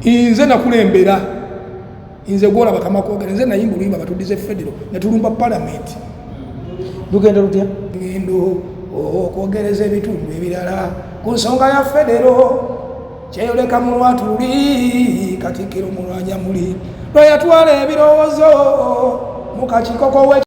nze nakulembera nze gwola bakama kwogera nze nayimba oluyimba batudize federo netulumba palamenti lugenda lutya ngendo okwogereza ebitundu ebirala ku nsonga ya federo kyeyoleka mu lwatu luli katikiro mulwanya muli lweyatwala ebirowoozo mu kakikoko we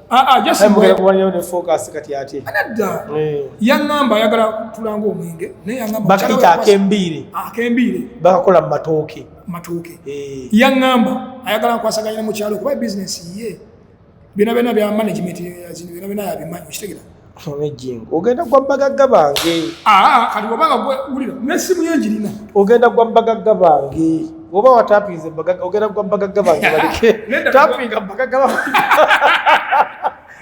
Ah, ah, yaŋamba ayagala tulanga omwenge nayebakayita akembiire akembiire bakakola mumatooke matooke eh. yaŋamba ayagala nkwasaganya ne mukyalo kuba bizinesi ye byona byona bya management byona byona yabimanyi okitegera ogenda gwa bagagga bange ah, kati wabaga gwewulira nesimu yenjirina ogenda gwa bagagga bange oba watapinze ogenda gwa bagagga bange balike tapinga bagagga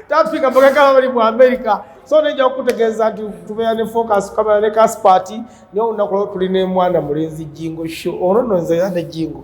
tapinga bagagga babali mu amerika so nejja okutegeeza nti tubeera ne focus kamera ne kaspati naye olunaku lwo tuli ne mwana mulenzi jingo sho ono nonze yade jingo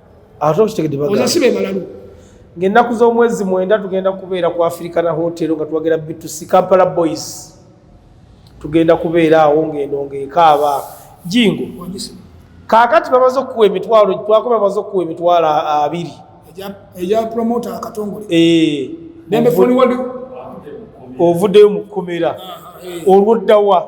ate okitegedde bagamba oza sibe balalu ng'ennaku z'omwezi mwenda tugenda kubeera ku afirika na hoteero nga twagera bitusi kampala boys tugenda kubeera awo ng'eno ng'ekaaba jingo kaakati bamaze okukuwa emitwalo twako bamaze okukuwa emitwalo abiri eya promota akatongole eh, ovuddeyo mu kkomera olwoddawa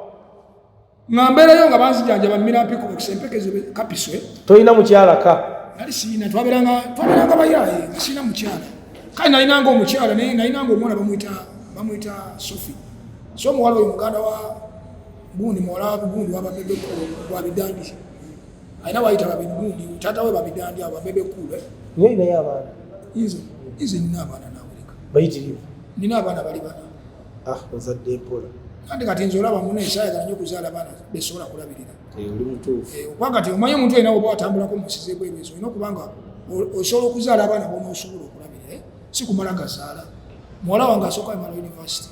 nga mbeerayo nga banzijanjaba mmira mpiko bakisa empeke zo kapiswe tolina mukyala ka nali siina twaberanga twaberanga bayaaye nga siina mukyala kale nalinanga omukyala naye nalinanga omwana bamwita bamwita sofi so omuwala oyo muganda wa gundi muwala wa gundi wababebe wa bidandi alina wayita babiri gundi taata we babidandi abo babebe kuule nyo inayo abaana inze inze nina abaana nawulika bayitirivu nina abaana bali bana ah ozadde mpola kandi kati nze olaba muna ekyayagala nyo okuzaala baana besobola kulabirira eh, oli mutuufu eh, okuba kati omanyi omuntu yena oba watambulako munsiza ebwebezo olina okuba nga osobola okuzaala abaana bonaosobola okulabirira eh? si kumala gazaala muwala wange asooka emala univesity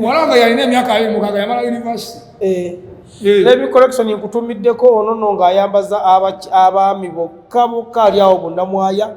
muwala wange yalina emyaka abiri mukaga yamala univesity Lebi collection nkutumiddeko ono no ng'ayambaza abaami bokka bokka ali awo bonna mwaya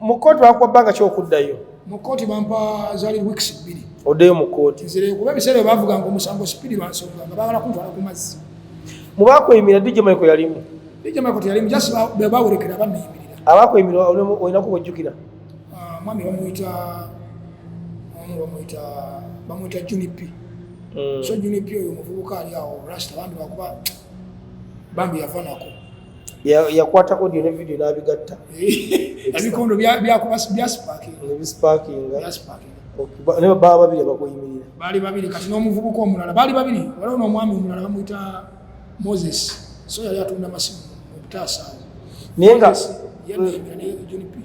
mu kkooti bakuwa bbanga ki okuddayo mu kkooti bampa zali weeks bbiri oddeyo mu kkooti nzire kuba ebiseera bavuganga omusango sipiri lwansonga nga bagala kuntwala ku mazzi mu bakweyimira dj maiko yalimu dj maiko teyalimu just bebawerekera banneyimirira abakweyimira olinaku bwojjukira ah, mwami bamuyita omu bamuyita bamuyita junip hmm. so junip oyo omuvubuka ali awo rasta bambi bakuba bambi yafanako yakwata audio ne video nabigatta ebikondo byaspakinganebaba babiri abakuyimirira baali babiri kati n'omuvubuka omulala baali babiri waliwo n'omwami omulala bamuyita moses so yali atunda masimu obutaasaawo naye nga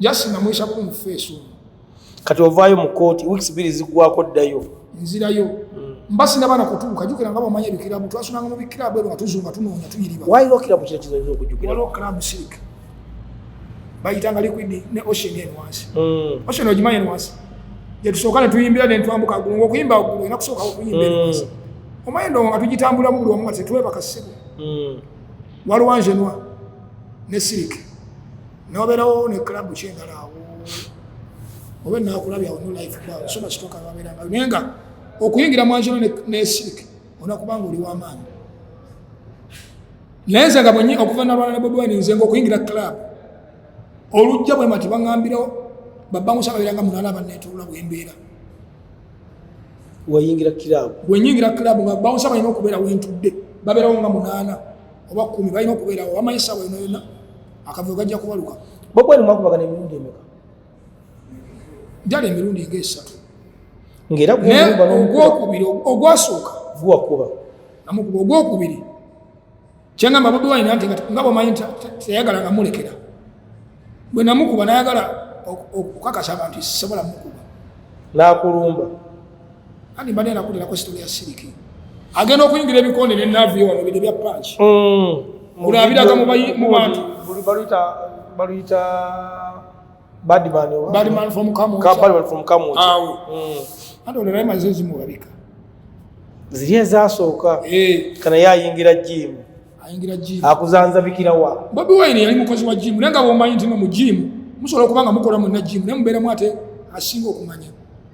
just namwisa ku mufeesi omu kati ovaayo mu kooti weeks biri zigwako ddayo nzirayo hmm. mba sinabana kutuuka jukira nga bamanya ebikirabu twasunanga mu bikirabu ebyo nga tuzunga tunoonya tuyiriba waliwo kirabu kira kizaiza okujukira waliwo kirabu sirik bayitanga liquid ne ocean en wansi hmm. ocean ogimanyi en wansi gyetusooka ne tuyimbira ne ntwambuka gulu ngaokuyimba gulu ena kusooka okuyimba en wansi hmm. omanyi ndongo nga tugitambulamu buli wamu nga tetwebaka ssebo waliwo anjenwa ne sirik noberawo ne club kyendala awo obe nakulabya ono life ba so much talk about nga nenga okuyingira mwanjo ne ne sick ona kubanga oli wa man lenza nga bwenye okuva na rwanda bobo ni nzengo okuyingira club olujja bwe mati bangambira baba musa kabira nga munala ba netula bwembera wayingira club wenyingira club nga baba musa bayina okubera wentudde babera nga munana oba kumi bayina okubera wa maisa bayina akavuyo kajja kubaluka bobwene mwakubagana emirundi emeka njala emirundi nga esatu ngaera ogwokubiri ogwasooka guwakuba namukuba ogwokubiri kyangamba bobi wine nti nga bwomanyi teyagala nga mulekera bwe namukuba nayagala okukakasa abantu sisobola mukuba nakulumba Ani mbadde nakulirako sitoli ya siriki agenda okuyingira ebikonde ne navio wano bide bya panki kulabiraga mm. mu bantu baluyita badman from kamuawo mm. ate olerayo maze zimulabika ziri ezasooka eh. kana ye ayingira jimu ayingira jimu akuzanza bikirawa bobi wine yali mukozi wa jimu naye nga bwomanyi ntino mu jimu musobola okuba nga mukola munna jimu naye mubeeramu ate asinga okumanya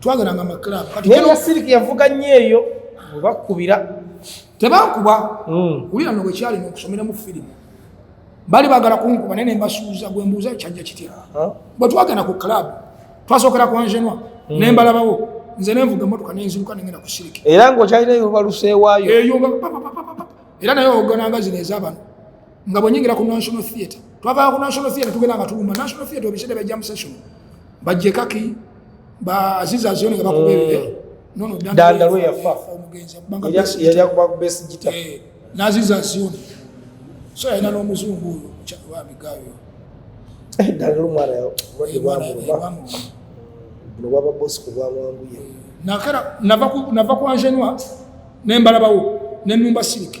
twageranga mu club kati naye siliki yavuga nnyo eyo obakubira tebankuba hmm. wulira no bwekyali nokusomera mu firimu bali bagala kunkuba naye nembasuuza gwe mbuuza kyajja kitya bwe twagenda ku club twasookera ku angenoi hmm. nembalabawo nze nenvuga emotoka nenziruka nengenda ku siliki era ngaokyalina eyobaluseewaayo eyo era naye ogananga zino ezabano nga bwenyingira ku national theatre twavaa ku national theatre tugenda nga tulumba national theatre obisede ba jam session bajje kaki ba aziza zioni nga bakubebe mm. nono danda lwe yafa omugenzi banga yali akuba ku best guitar eh, naziza zioni so yalina n'omuzungu oyo wa migayo eh, danda lu mwana yo wadi wa mu ba no baba boss ku bwa mwangu ye nakara nava ku nava ku anjenwa nembala bawo nenumba silike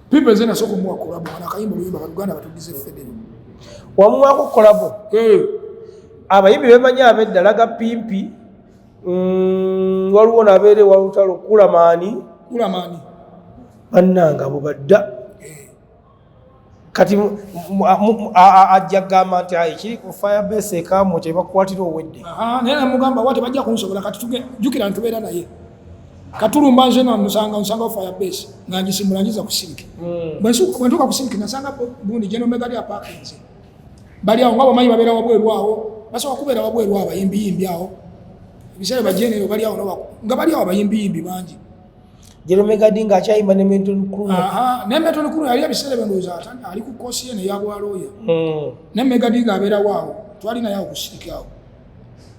Pipe zena soko mwa kolabo ana kayimba muyimba baluganda batugize federo. Wamwa ko kolabo. Eh. Abayimbi bemanya abedda laga pimpi. Mm, waliwo nabeere walutalo kulamaani. Kulamaani. Bannanga bubadda. Eh. Kati ajja gamba nti ayi kiri ku fire base ekamu kyebakukwatira owedde. Aha, naye namugamba wate bajja kunsobola kati tuge jukira ntubeera naye. katulumba nze namusanga nsanga fire base nga ngisimula ngiza ku siliki hmm. bwentuka ku siliki nasanga bundi geno mega lya pakinze bali awo nga bamanyi babeera wabweru awo basobola kubeera wabweru awo bayimbiyimbi awo ebiseera bajenero bali awo nga bali awo bayimbiyimbi bangi jeromegadi nga akyayimba ne menton crew ne menton crew yali ebiseera byendowooza ali ku kosi ye neyabwalooya hmm. ne megadi nga abeerawo awo twali naye awo ku siliki awo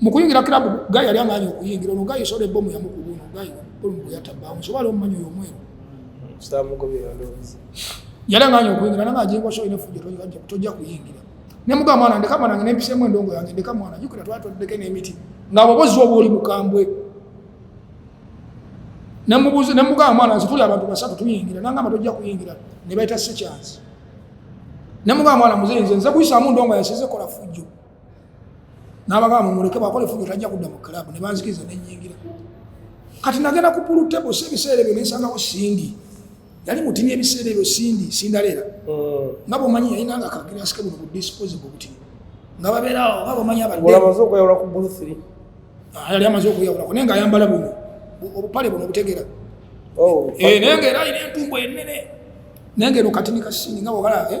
mu kuyingira club guy yali amaanyi okuyingira ono guy soda ebomu yamukuba ono guy ebomu gwe yatabba musobala omumanyi oyo omweru yali amaanyi okuyingira nanga ajingwa so ine fujjo tojja kuyingira ne muga mwana ndeka mwana ngene mpise mu ndongo yange ndeka mwana jukira twatu ndeke ne miti nga bobozi obo oli mukambwe ne mubuzi ne muga mwana zituli abantu basatu tuyingira nanga matojja kuyingira ne baita se chance ne muga mwana muzenze nze kuyisa mu ndongo yaseze kola fujjo n'abagamba mumuleke bwakola efujo tajja kudda mu club ne banzikiriza ne nyingira kati nagenda ku pulu table si ebiseera ebyo nensangawo sindi yali mutini ebiseera ebyo sindi sindaleera mm. nga bwomanyi yalina nga kagirasike buno bu disposable butini nga babeerawo nga bwomanyi abaddeyali amaze okweyawulako naye nga ayambala buno obupale buno obutegera oh, eh, naye nga era alina entumbu enene naye nga eno katini kasindi nga bwogala eh?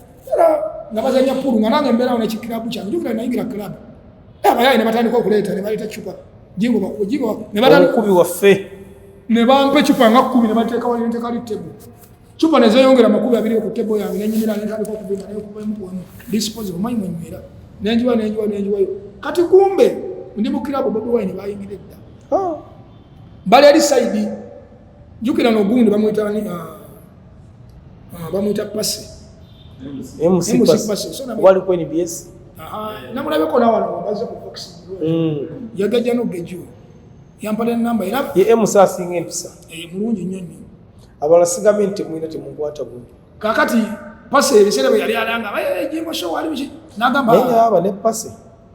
era nga bazanya pulu nga nange mbeerawo nekikirabu kyange jukira nayingira kirabu abayaye ne batandika okuleeta ne baleeta cupa jingobakubi waffe ne bampa ecupa nga kkumi ne bateeka wali nteeka li tebo cupa ne zeyongera amakumi abiri ku tebo yange nenyumira netandika okuvima nekubamukuwamu disposal omanyi mwenywera nenjiwa nenjiwa nenjiwayo kati kumbe ndi mukirabu bobi wayi ne bayingira edda ah. bali ali saidi jukira nogundi bamwita ah, Ah, bamuyita pasi waliko nbs namulabeko nawano baze ku box mm. yagajja nogejuo yampala enamba era ye emusa asinga empisa eh, mulungi nnyo nnyo abala sigambe nti temulina temukwata bubi kakati pasi ebiseera bwe yali alanga jengo show ali biki nagamba ne pasi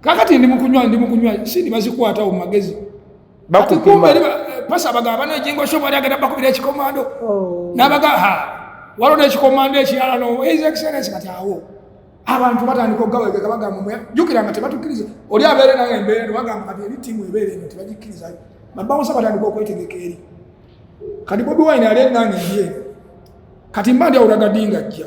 kakati ndi mukunywa ndi mukunywa sindi bazikwata mu magezi bakukuma eh, pasa abagamba ne jingo shobo ali agenda bakubira ekikomando oh. nabaga ha walo ne ekikomando ekirala no his excellence kati awo abantu batandika okugawegeka bagamba mwe jukira nga tebatukiriza oli abeere naye embeera no bagamba kati eri tiimu ebeere eno tebagikiriza babawosa batandika okwetegeka eri kati bobi wine ali enange ye kati mbandi awulaga dinga jja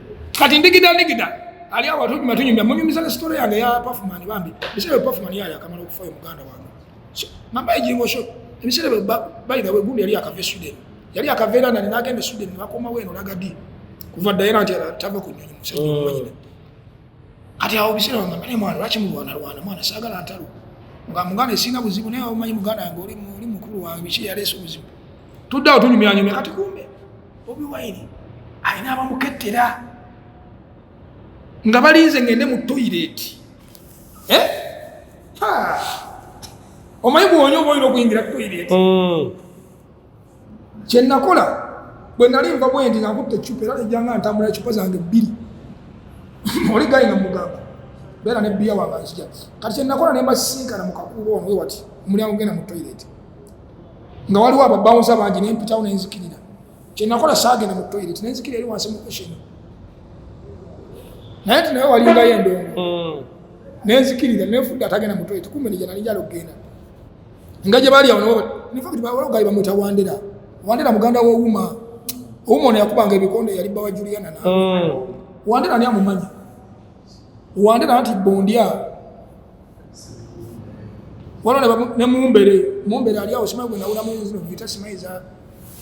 kati ndigida ndigida ali awo atunyuma matunyuma munyumiza ne story yange ya performance bambi bisebe performance yali akamala okufa yo muganda wange mamba ejingo sho ebisere bali dawe gundi yali akave Sweden yali akave era nani nagende Sweden bakoma weno lagadi kuva dayana nti atava kunyonyi musajja mm. mwanyina kati awo bisere wange mane mwana lwaki mulwana lwana mwana sagala antalo nga muganda esinga buzibu naye omanyi muganda yange oli mukulu wange biki yaleese obuzibu tuddawo tunyumyanyumya kati kumbe bobi wine alina abamukettera nga balinze ngende mu toyireti eh? omanyi bwonya oba olina okuyingira toyireti mm. kyenakola bwe nali nva bwendi nga nkutta ecupa era nejjanga ntambula ecupa zange bbiri oli gali nga mugamba beera nebbiya wange nzija kati kyenakola nembasisinkana mu kakuuba ono wewati omulyango genda mu toyireti nga waliwo ababawunza bangi nempitawo nenzikirira kyenakola saagenda mu toilet nenzikira eri wansi mu ocean naye nti naye walingayo endongo mm. nenzikirira nenfudde atagenda mu toilet kumbe nija nali njala okugenda nga gye baali awo nabo infact bawalogayi bamwita wandera wandera muganda wowuma owuma ono yakubanga ebikonde yali bbawa juliana na mm. wandera ani amumanyi wandera nti bondia waliwo ne mumbere mumbere ali awo simanyi gwenawulamu zino vita simanyi za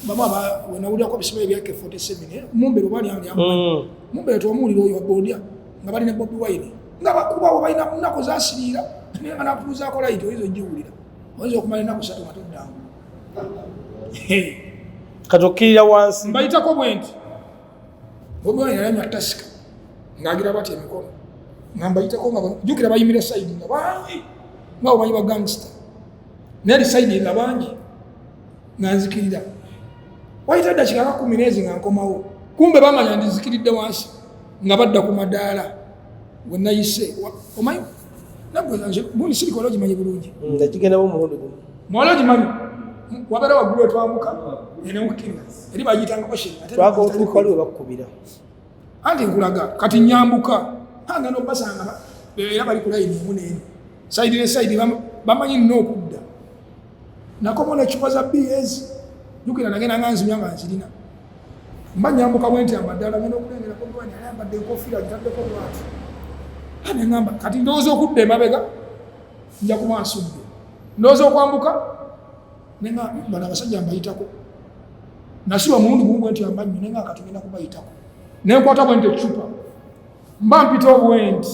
bamu aba wenawulirako bisimanyi ebyake 47 eh, mumbere oba ali ali mm. mumbere twamuwulira oyo abondya nga bali ne bobi wine nga bakubawo balina munaku zasiriira naye nga nakubuzaako layiti oyinza ogiwulira oyinza okumala enaku satu nga toddangu kati okkirira wansi mbayitako bwenti bobi wine yalanywa tasika ng'agira bati emikono nga mbayitako nga jukira bayimira saidi nga bangi nga omanyi bagangsta naye li saidi nga bangi nga nzikirira wayita ddakika nga kumi neezi nga nkomawo kumbe bamanya ndizikiridde wansi nga badda ku madaala wenayise omanyi nagwe nze muli sirika wali ogimanyi bulungi nagigendamu omulundi gumu mwali ogimanyi wabeera waggulu etwambuka enewukkirira eri bagiyitanga ocean twagala otuuka wali webakukubira anti nkulaga kati nyambuka anga nobasanga era bali kulayini emu neeno saidi ne saidi bamanyi nina okudda nakomona ecupa za bs jukira nagenda nga nzimya nga nzirina mba nyambuka bwenti amadala ngenda okulengera kogwani ayambadde enkofiira gitaddeko lwatu ane ngamba kati ndowooza okudda emabega nja kuba nsudde ndowooza okwambuka nengambana abasajja mbayitako nasiba mulundi gumu bwenti amannyo nenga kati ngenda kubayitako nenkwata bwenti ecupa mba mpita obwenti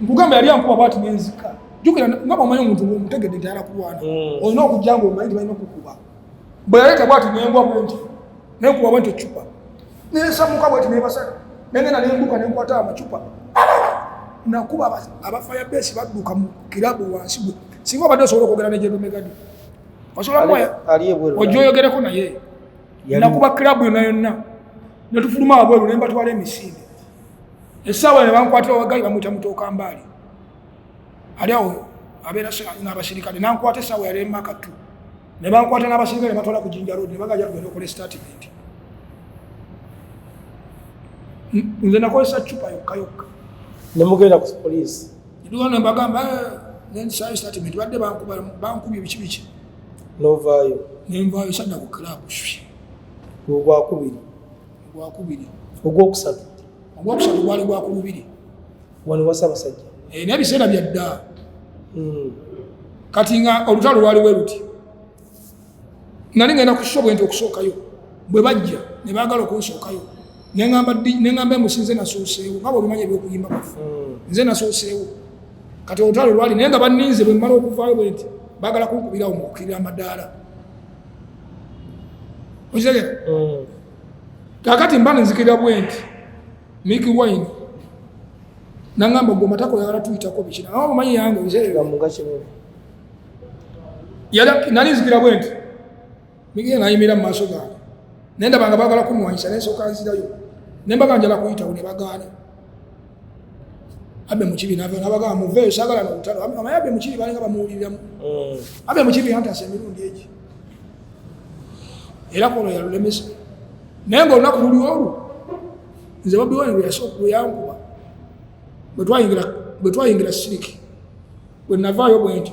nkugamba yali ankuba bwati nenzika jukira nga bwomanyi omuntu omutegedde nti alakulwana hmm. olina okujja nga omanyi tibalina okukuba bwe yaleta bwati nengwa bwenti nenkuba bwenti ecupa nesamuka bweti nebasala nengenda nembuka nenkwata amacupa nakuba abafaya besi badduka mu kirabu wansi gwe singa obadde osobola okwogera nejedomegadi osobola mwaya ojja oyogereko naye nakuba kirabu yonna yonna netufuluma wabweru nembatwala emisinde esaawa ne bankwatira wagayi bamuyita mutooka mbaali ali awo abeera n'abasirikale nankwata esaawa yali emaka tu ne bankwata n'abasirikale ne batwala ku jinja road ne bagaja tugenda okola estatimenti nze nakozesa cupa yokka yokka ne mugenda ku poliisi nduwa ne mbagamba eh, nensayo estatimenti badde bankubye biki biki novaayo nenvaayo sadda ku club ogwakubiri ogwakubiri ogwokusatu ogwokusatu gwali gwa ku lubiri wano wasabasajja eh, naye biseera byadda hmm. kati nga olutalo lwali we luti nali ngenda ku shobo nti okusookayo bwe bajja ne baagala okunsookayo neŋamba emusi nze nasooseewo nga bwolumanya ebyokuyimba kwafe hmm. nze nasooseewo kati olutalo lwali naye nga baninze bwe mmala okuvaayo bwe nti baagala kunkubirawo mu kukirira amadaala okitegera hmm. kakati mba nenzikira bwenti miki wine nangamba gwe matako yagala tuyitako bikina awo omanyi yange nali nzikira bwenti miki nayimira mu maaso gange naye ndabanga bagala kunwanyisa naye soka nzirayo nembaga njala kuyitawo ne bagaana abe mukibi nava nabaga muve sagala na utalo abe mama yabe mukibi balinga bamuulira mu mm. abe mukibi hanta asemiru ngeji era kono ya lulemesa nengo na kuli oru nze babi wani ya so ku yangu ba bwetwa ingira bwetwa ingira siriki bwe nava yo bwenti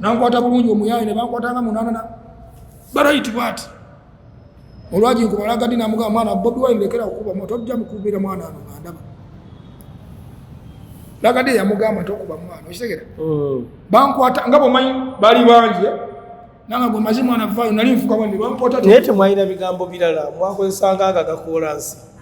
nankwata bulungi omuyaaye ne bankwata nga munaana barayiti bwati olwagi nkubalagadi namugamba mwana bobi wine lekera okukuba moto ojja mukubira mwana ano nga ndaba lagadi eyamugamba nti okuba mwana okitegera mm. bankwata nga bwomanyi bali bangi eh? nanga gwe mazi mwana vaayo nali nfuka bwanne bankwata naye temwalina bigambo birala mwakozesanga aga gakoolansi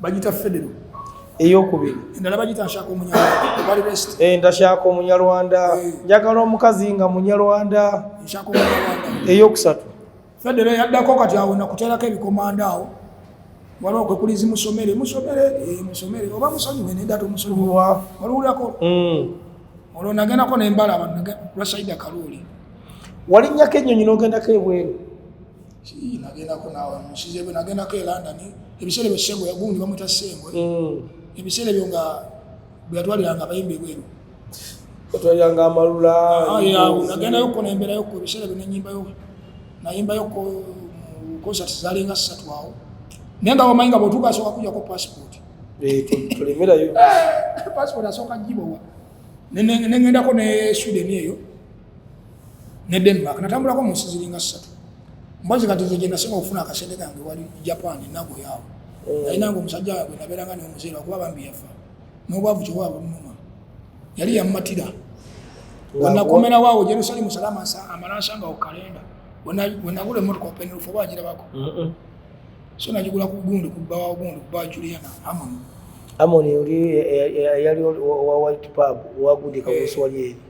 bagita federo eyokubiri endala bagita nshaka omunyarwanda bali best eh ndashaka omunyarwanda eh. njagala omukazi nga munyarwanda nshaka omunyarwanda eyokusatu federo yaddako kati awo nakuterako ebikomanda awo waliwo kwe kuli zimusomere musomere eh, musomere oba musonyiwe nedda tomusonyiwa waliwulirako mm. olwo nagendako nembala lwasaida kaluuli walinnyako ennyonyi nogendako ebweru nagendako nawe musize bwe nagendako e london ebiseera ebyo sengo yagundi bamwita sengo mm. ebiseera ebyo nga bwe yatwaliranga abayimba ebweru otwaliranga amalula ah, nagendayo kona emberayo ko ebiseera ebyo nenyimbayo nayimbayo ko concert zalinga ssatu awo naye nga wamanyi nga bwotuuka asooka kujako passport eh, tulemerayo eh, passport asooka gibowa nengendako ne sweden eyo ne Denmark natambulako mu nsi ziringa ssatu mbazi kati nze gyenasinga okufuna akasente kange wali Japan nagoyaawo mm. naye nange omusajja wabwe nabeeranga neomuzeera kuba bambi yafa n'obwavu kyowa bunuma yali yamumatira wenakomerawo awo Jerusalemu salama amalansanga ku kalenda wenagula emotoka openerufu oba agirabako so nagigula ku gundi kubbawa gundi kubbawa Juliana Amon Amon yali wa White Pub wagudika ku nswali eri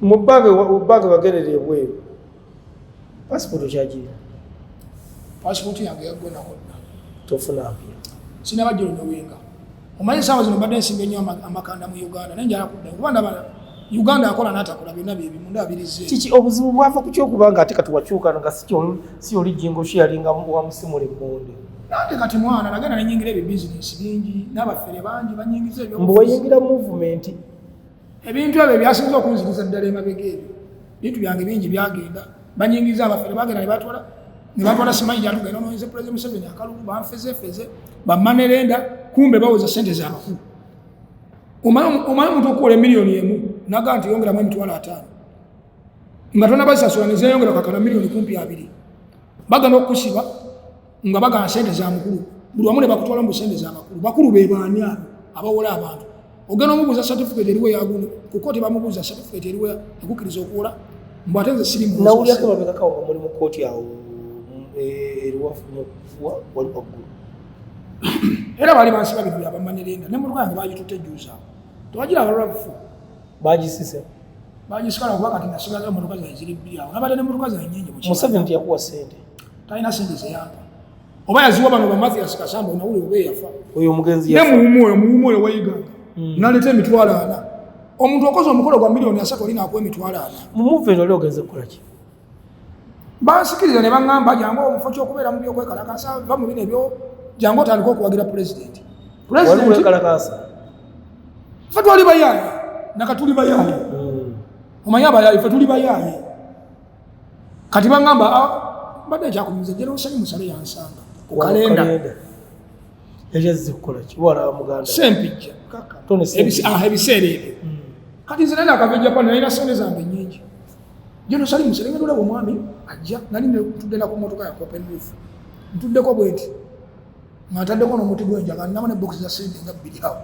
mu banka bagerera ebweru pasipoti kyagiri pasipoti yange yagwenakonna tofuna mpira sinaba jolo nowenga omanyi esawa zino mbadde nsinga ennyo amakanda mu uganda naye njala kudda kuba ndaba uganda akola natakola byonna byebimu ndabirize kiki obuzibu bwava ku kyokuba nga ate kati wakyuka nga si oli jingo sharinga wa musimu lemonde nange kati mwana nagenda nenyingira ebyo bizinesi bingi n'abafere bangi banyingiza ebyo mbu wayingira muvumenti ebintu ebyo byasinza okunziriza ddala emabega ebyo bintu byange bingi byagenda banyingiza abafere bagenda nebatwala nebatwala simanyi gyatugenda noyinza pulezidenti museveni akalulu banfezefeze bamanerenda kumbe bawoza sente zabakulu omala omuntu okukola emiliyoni emu naga nti yongeramu emitwalo ataano nga tonabazisasula nezeyongera kakana miliyoni kumpi abiri bagana okusiba nga bagala sente za mukulu buli wamu ne bakutwala mu sente za bakulu bakulu be baani abo abawola abantu ogenda omubuuza certificate eriwe yagundi ku kooti bamubuuza certificate eriwe ekukkiriza okuwola mbu ate nze siri nawulyako mabegaka nga muli mu kooti awo eh, eriwafuwa wali waggulu era bali bansi babiri byabamanirinda ne mutuka yange bagitutte ejjuuzaawo tewagira abalwabufu bagisise bagisikala kuba kati nasigaza emotoka zae ziri bbiri awo nabadde ne motoka zae nyingi museveni tiyakuwa sente talina sente zeyampa oba yaziwa bano bamathias kasamba onawuli oba eyafa oyo omugenzi ne muwumu oyo muwumu oyo weyiganga hmm. naleta emitwalo ana omuntu okoze omukolo gwa miliyoni asatu olina akuwa emitwalo ana mumuva eno oli ogenze kukolaki bansikiriza ne baŋŋamba jangu omufo kyokubeera mu byokwekalakasa va mu bino ebyo jangu otandika okuwagira pulezidenti pulezidenti fe twali bayaaye nakatuli bayaaye hmm. omanyi abayaaye fe tuli bayaaye kati bangamba ah, mbadde kyakumiza jera osali musale yansanga ku kalenda sempijja ah, ebiseera ebyo hmm. kati nze nana akava ejapani nalina sente zange nyingi jeno sali musere nga tulaba omwami ajja nali tugenda ku motoka ya copen roof ntuddeko bwenti nga ntaddeko n'omuti gw'enjaga ninamu ne bokisi za sente nga bbiri awo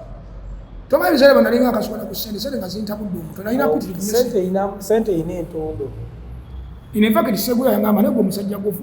tomanyi biseera bwe nalinga akasukana ku sente sente nga zintabudde omutwe nalina pitirikisente erina entondo in fact segula yangamba naye gwe omusajja gwofu